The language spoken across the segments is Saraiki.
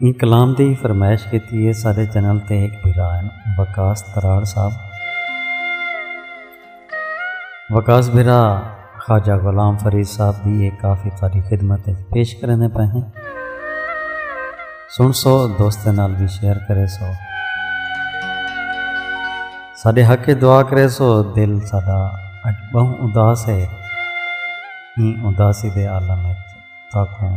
ایں کلام دی فرمائش کیتی ہے سارے چینل تے ایک بھرا ہیں وکاس تراڑ صاحب وکاس بھرا خواجہ غلام فرید صاحب بھی ایک کافی ساری خدمت پیش کرنے پہ ہیں سن سو دوست نال بھی شیئر کرے سو سارے حق دعا کرے سو دل سارا اج بہت اداس ہے ایں اداسی دے عالم ہے تاکوں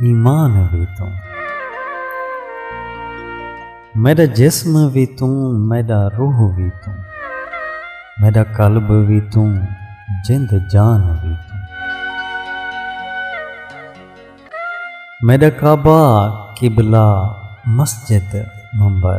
ایمان وی توں میڈا جسم وی توں میڈا روح وی توں میڈا قلب وی توں جند جان وی توں میڈا کعبہ قبلہ مسجد ممبر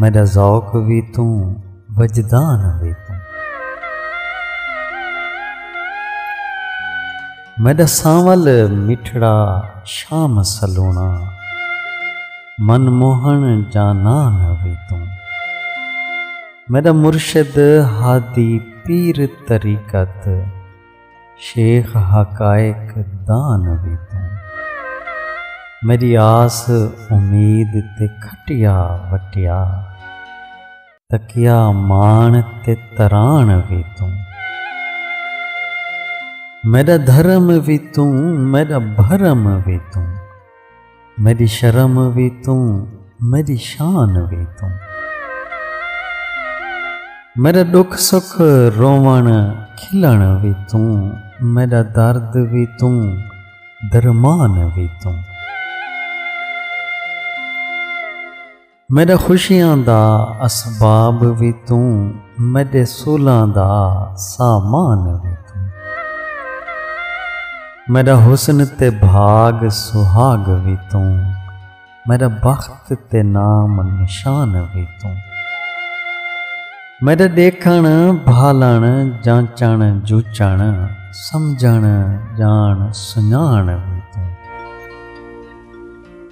میڈا ذوق وی توں وجدان وی توں میڈا سانول مٹھڑا شام سلونا من موہن جانان وی توں میڈا مرشد ہادی پیر طریقت شیخ حقائق دا نبی تو میری آس امید تے کھٹیا وٹیا تکیا مان تے تران بھی تو میرا دھرم بھی تو میرا بھرم بھی تو میڈی شرم وی توں میڈی شان وی توں میرا دکھ سکھ روون کھلن وی توں میرا درد وی توں درمان وی توں میݙے خوشیاں دا اسباب وی توں میݙے سولاں دا سامان وی توں میݙا حسن تے بھاگ سہاگ وی توں میݙا بخت تے نام نشان وی توں میݙا ݙیکھݨ بھالݨ جانچݨ جوچݨ سمجھݨ ڄاݨ سنڄاݨ وی توں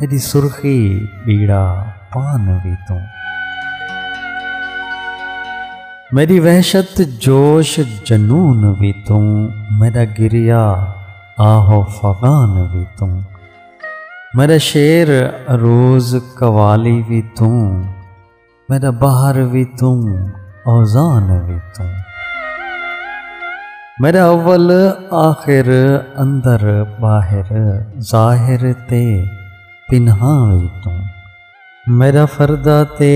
میݙی سرخی ٻیڑا پان وی توں۔ میݙی وحشت جوش جنون وی توں۔ میݙا گریا آہ و فغان وی توں۔ میݙا شعر عروض قوالی وی توں۔ میڈا بہار وی توں اوزان وی توں میڈا اول آخر اندر باہر ظاہر تے پنہا وی توں میڈا فردا تے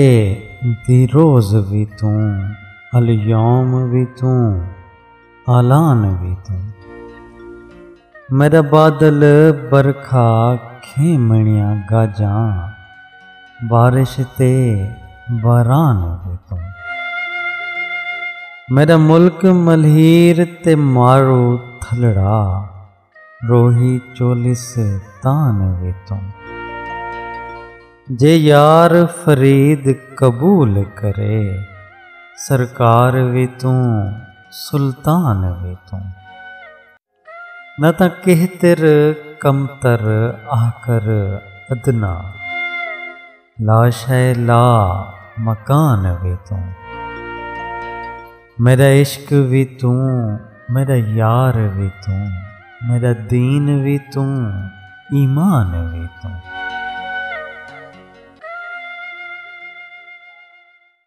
دی روز وی توں الیوم وی توں آلان وی توں میڈا بادل برکھا کھیمنیاں گاجاں بارش تے باران وی توں میڈا ملک ملہیر تے مارو تھلڑا روہی چولس تان وی توں۔ جے یار فرید قبول کرے۔ سرکار وی توں سلطان وی توں۔ نہ تاں کہتر کمتر آہکر ادنی۔ لاشئے لا مکان وی توں میڈا عشق وی توں میڈا یار وی توں میڈا دین وی توں ایمان وی توں۔